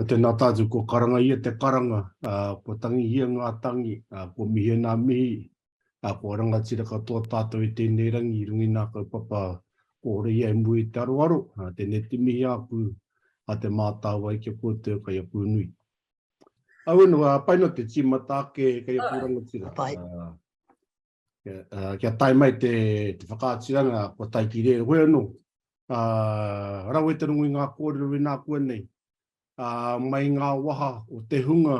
Tēnā tātou kua karanga ia te karanga, kua tangihia ngā tangi, kua mihia ngā mihi, kua rangatira katoa tātou i tēnei rangi i runga i ngā kaupapa kōrero ia e mua i te aroaro, tēnei te mihi āku a Te Mātāwai ki a koutou kei a Pūnui. Auenu, pai noa te tīmata ake kei a kō rangatira. Pai. Uh, kia tae mai te, te whakaatiranga ko taiki reo koe anō. Uh, rawe te rungu i ngā kōrero i nā kua nei. Uh, mai ngā waha o te hunga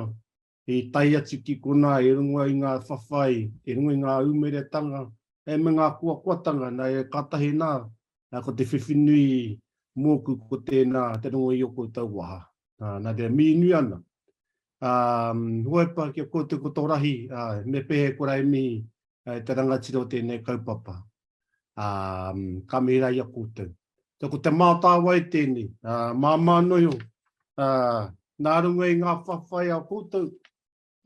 i tai atu ki kona i rungu i ngā whawhai, i rungu i ngā umeretanga, e me ngā kua kuatanga, nā e katahi nā, nā ko te whiwhinui mōku ko tēnā te rungu i o koutou waha. Uh, nā te mīnui ana. ā, Huepa kia koutou ko tō rahi, ā, me pehe ko Raimi, ā, te rangatira o tēnei kaupapa, ā, ka mihi rā i a koutou. Ā, ko te mātāwai tēnei, ā, māmā noio, ā, nā runga i ngā whawhai a koutou,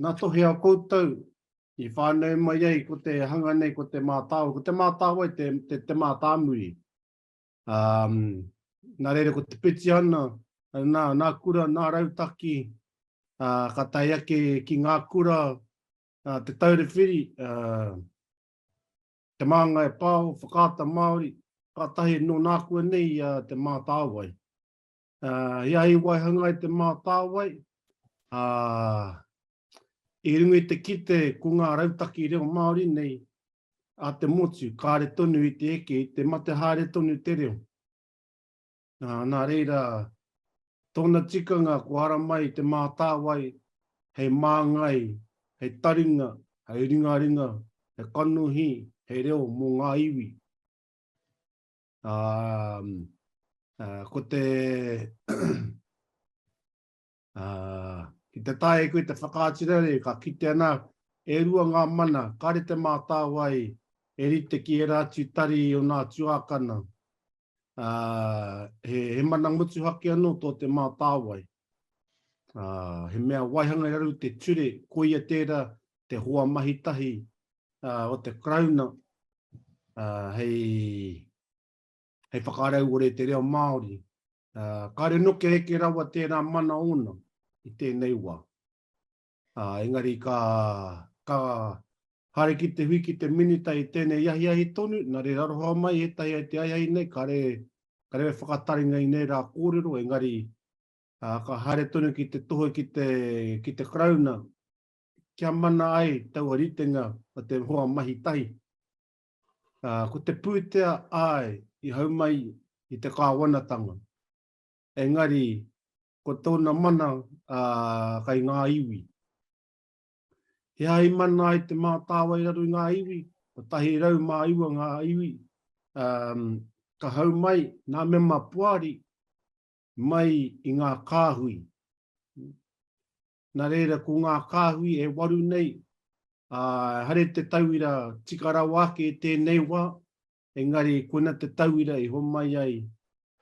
ngā tohe a koutou, i whānau mai ai ko te hanga nei, ko te mātāwai, ko te mātāwai te, te, te mātāmuri. Um, nā reira ko te Pitiana, nā, nā kura, nā rautaki, uh, ka tai ake ki ngā kura, uh, te taure whiri, uh, te māngai e pāo, whakaata Māori, ka tahi nō nākua nei uh, te mātāwai. He ahi waihanga i te mātāwai, ā, i runga i te kite ko ngā rautaki reo Māori nei a te motu, kāre tonu i te eke, i te mate haere tonu te reo. Nā reira, tōna tikanga ko ara mai te mātāwai hei māngai, hei taringa, hei ringaringa, hei kanohi, hei reo mō ngā iwi. Ā, ko te, ā, ki te tae koe te whakaaturanga nei, ka kitea nā, e rua ngā mana, kāre te mātāwai e rite ki ērā atu tari o nā tuākana. Ā, he, he mana motuhake anō tō te mātāwai. Ā, he mea waihanga raru te ture, koia tērā te hoa mahi tahi o te Karauna hei whakarauore te reo Māori. Kāre noke heke rawa tērā mana ōna i tēnei wā. Engari ka haere ki te hui ki te Minita i tēnei ahiahi tonu, nā reira aroha mai ētahi ai te ahiahi nei, kāre e whakataringa i nei rā kōrero, engari ka haere tonu ki te tohe ki te Karauna kia mana ai taua ritenga o te hoa mahi tahi. Ā, ko te pūtea āe i hau mai i te kāwanatanga. Engari, ko tōna mana, ā, kai ngā iwi. He aha i mana ai te mātāwa i raro i ngā iwi? Kotahi rau mā iwa ngā iwi, ā, ka hau mai ngā mema poari mai i ngā kāhui. Nā reira, ko ngā kāhui e waru nei, ā, haere te tauira tika rawa ake i tēnei wā, engari koina te tauira i homai ai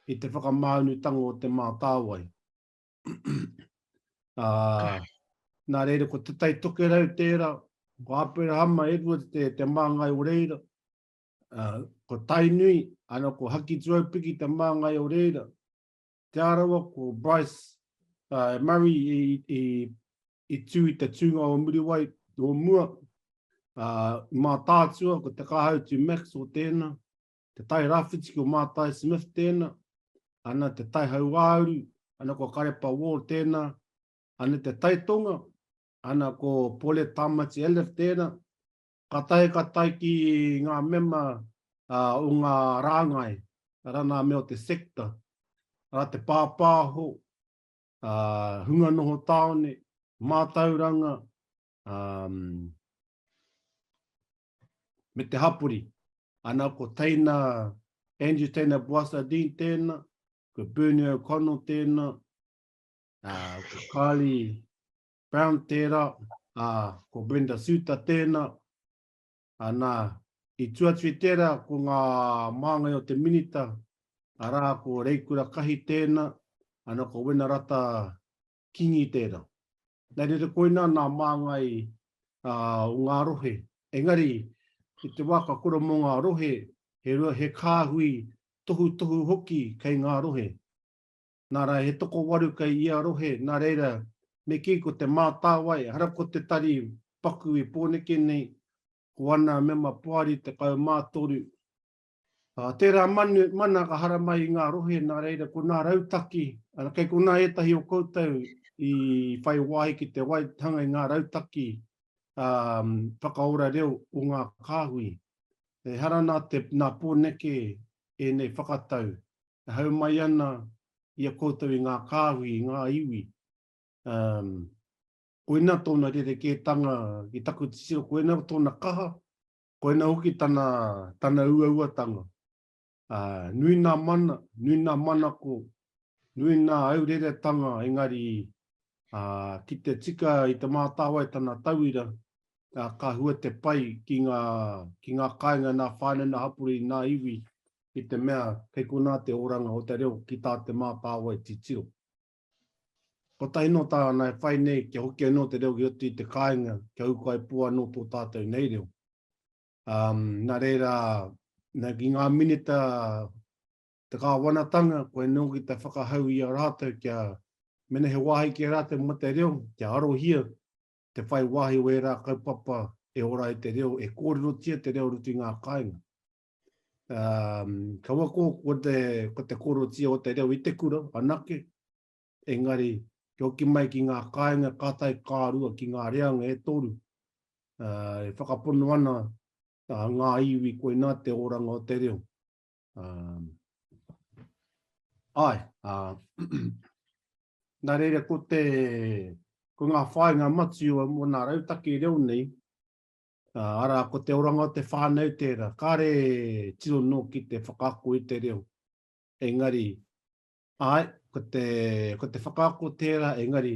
i te whakamāunutanga o Te Mātāwai. ā, nā reira, ko Te Tai Tokerau tērā, ko Aperahama Edwards te, te māngai o reira, ā, ko Tainui, ana ko Hakituaupiki te māngai o reira, Te Arawa, ko Bryce uh, Murray i, i, i tū i te tūnga o Muriwai o mua. Uh, mā tātua, ko te kāhautu Max o tēnā, te tai rāwhiti ko Mātai Smith tēnā, ana te tai hauāuru, ana ko Karepa Wall tēnā, ana te tai tonga, ana ko Pole Tamati Elif tēnā, Ka taea ka tae ki ngā mema o ngā rāngai, arā nā mea o te sector, arā te pāpāho, hunga noho tāone, mātauranga, me te hapori. Ana ko teina, Andrew Teina Boissardin tēna, ko Bernie O'Connell tēna, ko Carly Brown tērā, ā, ko Brenda Suter tēnā. Ā, nā, i tū atu i tērā ko ngā māngai o te Minita, arā, ko Reikura Kahi tēnā, ana ko Wenarata Kingi tērā. Nā reira koinā nā māngai ā, o ngā rohe. Engari, i te wā ka kura mō ngā rohe, he, he kāhui tohutohu hoki kei ngā rohe. Nā rā, he tokowaru kei ia rohe, nā reira, me kī ko te mātāwai, ehara ko te tari paku i Pōneke nei, ko ana mema poari 13. Ā, tērā manu, mana ka haramai i ngā rohe, nā reira, ko nā rautaki, arā, kei konā ētahi o koutou i whai wāhi ki te waihanga i ngā rautaki ā, whakaora reo o ngā kāhui. Ehara nā te, nā Pōneke ēnei whakatau e hau mai ana i a koutou i ngā kāhui, i ngā iwi. Um, koina tōna rerekētanga ki taku titiro, koina tōna kaha, koina hoki tana, tana uauatanga. Uh, nui nā mana, nui nā manako, nui nā aureretanga, engari uh, ki te tika i te mātāwai tana tauira, uh, ka hua te pai ki ngā, ki ngā kāinga, nā whāne, nā hapuri, nā iwi, i te mea kei konā te oranga o te reo ki tā te mātāwai titiro. Kotahi nō tāna e whai nei kia hoki anō te reo ki roto i te kāinga kia ūkaipō anō tō tātou nei reo. Um, nā reira, nā ki ngā minita te kāwanatanga, koe nō ki te whakahau i a rātou kia mena he wāhi ki a rātou mo te reo, kia arohia te whai wāhi o ērā kaupapa e ora i te reo, e kōrerotia te reo rutu i ngā kāinga. Um, kaua ko, ko, te, ko te korotia o te reo i te kura, anake, engari, ki hoki mai ki ngā kāinga kātai kārua ki ngā reanga e toru, uh, e whakapono ana uh, ngā iwi koina te oranga o te reo. Um, ai, uh, nā reira ko te, ko ngā whāinga matu o mō nā rautaki reo nei, Arā, ko te oranga o te whānau tērā, kāre tino nōki te whakaako i te reo. Engari, āe, ko te, ko te whakaako tērā, engari,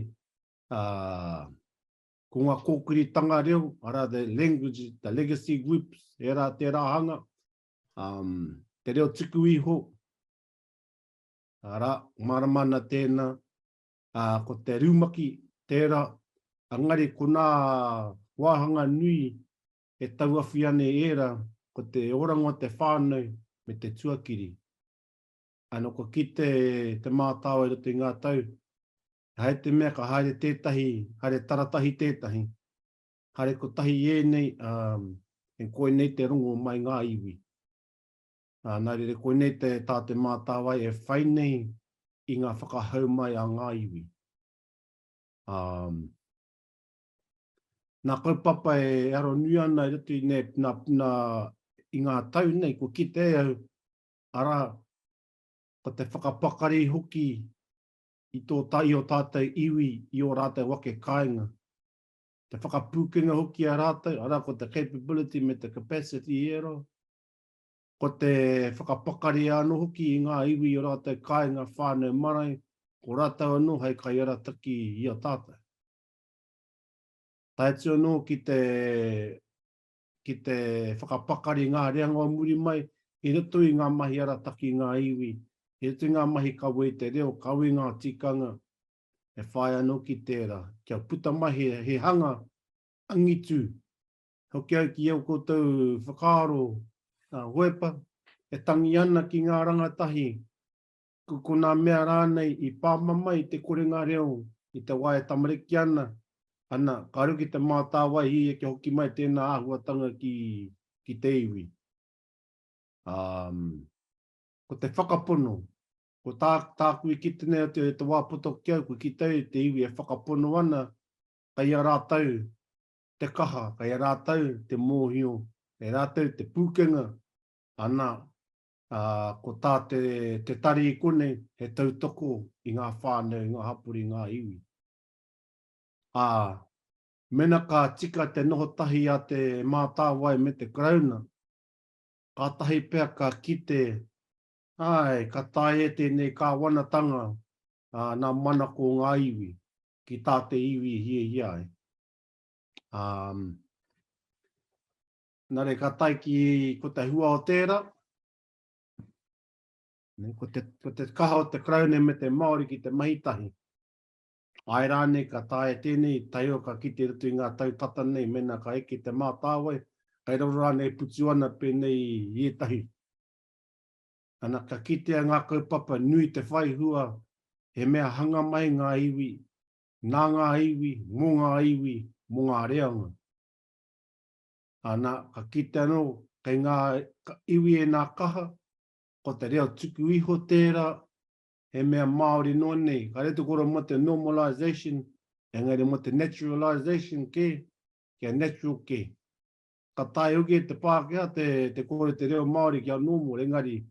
uh, ko ngā kōkiritanga reo, arā, the language, the legacy groups, era tērā hanga, um, te reo tuku iho, arā, maramana tēnā, ā, ko te rumaki tērā, engari ko ngā wāhanga nui e tauawhia nei ērā, ko te oranga o te whānau me te tuakiri. Ā, nō kua kite te mātāwai i roto i ngā tau, he haere te mea ka haere tētahi, haere taratahi tētahi, haere kotahi ēnei, ā, e koinei te rongo mai ngā iwi. Ā, nā reira koinei te tā te mātāwai e whai nei i ngā whakahau mai a ngā iwi. Ā, nā kaupapa e aro nui ana i roto i nē, nā, nā, i ngā tau nei, kua kite au, arā, ko te whakapakari hoki i tō, i ō tātou iwi, i ō rātou ake kāinga. Te whakapūkenga hoki i a rātou, arā, ko te capability me te capacity i ērā, Ko te whakapakari anō hoki i ngā iwi i ō rātou kāinga whānau marae, ko rātou anō hei kaiarataki i a tātou. Tae atu anō ki te, ki te whakapakari ngā reanga o muri mai, i roto i ngā mahi arataki i ngā iwi, i roto i ngā mahi kawe i te reo, kawe i ngā tikanga, e whāia anō ki tērā, kia puta mai he, he hanga angitu hoki au ki ō koutou whakaaro hoepa e tangi ana ki ngā rangatahi, ko konā mea rānei i pāmama i te korenga reo i te wā e tamariki ana, ana, ka ruki te mātāwaihi kia hoki mai tēnā āhuatanga ki, ki te iwi. Um, ko te whakapono, ko tā, tāku i kite nei atu e te wā poto ki au, ko kite au te iwi e whakapono ana, kai a rātou te kaha, kei a rātou te mōhio, kei rātou te pūkenga, ana, ā, ko tā te, te tari i konei, he tautoko i ngā whānau, i ngā hapori, i ngā iwi. Ā, mena ka tika te noho tahi a Te Mātāwai me te Karauna, kātahi pea ka kite, āe, ka tae e tēnei kāwanatanga, ā, nā manako ngā iwi, ki tā te iwi i hiahia ai. Um, nare ka tai ki ko te hua o tēra, ne, ko, te, ko te kaha o te kraune me te Māori ki te mahitahi. Ai rāne ka tae tēnei, tai o ka kite rutu i ngā tau tata nei, mena ka eke te mātāwai, kai roro rāne e putu ana pēnei i etahi. Ana ka kitea ngā kaupapa nui te whai hua, he mea hanga mai ngā iwi, nā ngā iwi, mō ngā iwi, mō ngā reanga. Ā, nā, ka kite anō, kei ngā iwi e nā kaha, ko te reo tuku iho tērā, he mea Māori noa nei, kāre te kora mō te normalization, engari mō te naturalization kē, kia natural kē. Ka taea hoki e te Pākehā te, te kore te reo Māori kia normal, engari,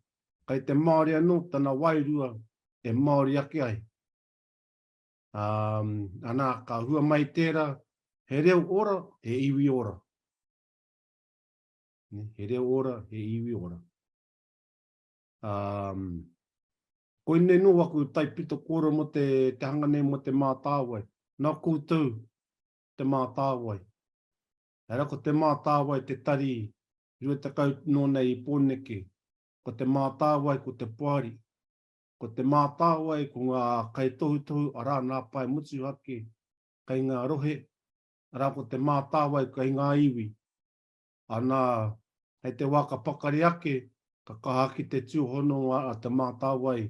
kei te Māori anō, tana wairua, e Māori ake ai. Ana, ka hua mai tērā, he reo ora, he iwi ora. He reo ora, he iwi ora. Koinei nō aku taipito kōrero mō te hanga nei mō Te Mātāwai. Nā koutou Te Mātāwai. Hei rā, ko Te Mātāwai te tari 20 nō nei i Pōneke. Ko Te Mātāwai, ko te poari. Ko Te Mātāwai, ko ngā kaitohutohu, arā, nā Pae Motuhake, kei ngā rohe, arā, ko Te Mātāwai kei ngā iwi. Anā, hei te wā ka pakari ake, ka kaha ake te tūhononga a Te Mātāwai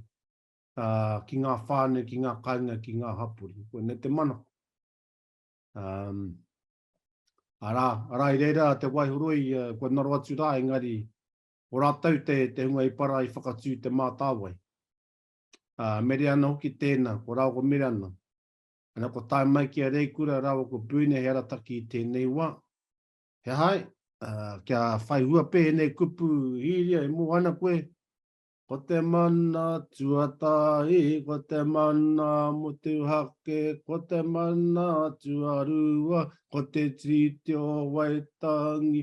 ki ngā whānau, ki ngā kāinga, ki ngā hapori. Koinei te manako. Arā, arā, i reira te waihoroi kua naro atu rā, engari ko rātou te, te hunga i para i whakatū te mātāwai. Ā, mere ana hoki tēnā, ko rāua ko Mirana. Ana ko tae mai ki a Reikura rāua ko Bruna he arataki i tēnei wā. He aha ai? Ā, kia whai hua pē ēnei kupu, Hīria, e Moana koe, Ko te mana tuatahi, ko te mana motuhake, ko te mana tuarua, ko te tiriti o Waitangi,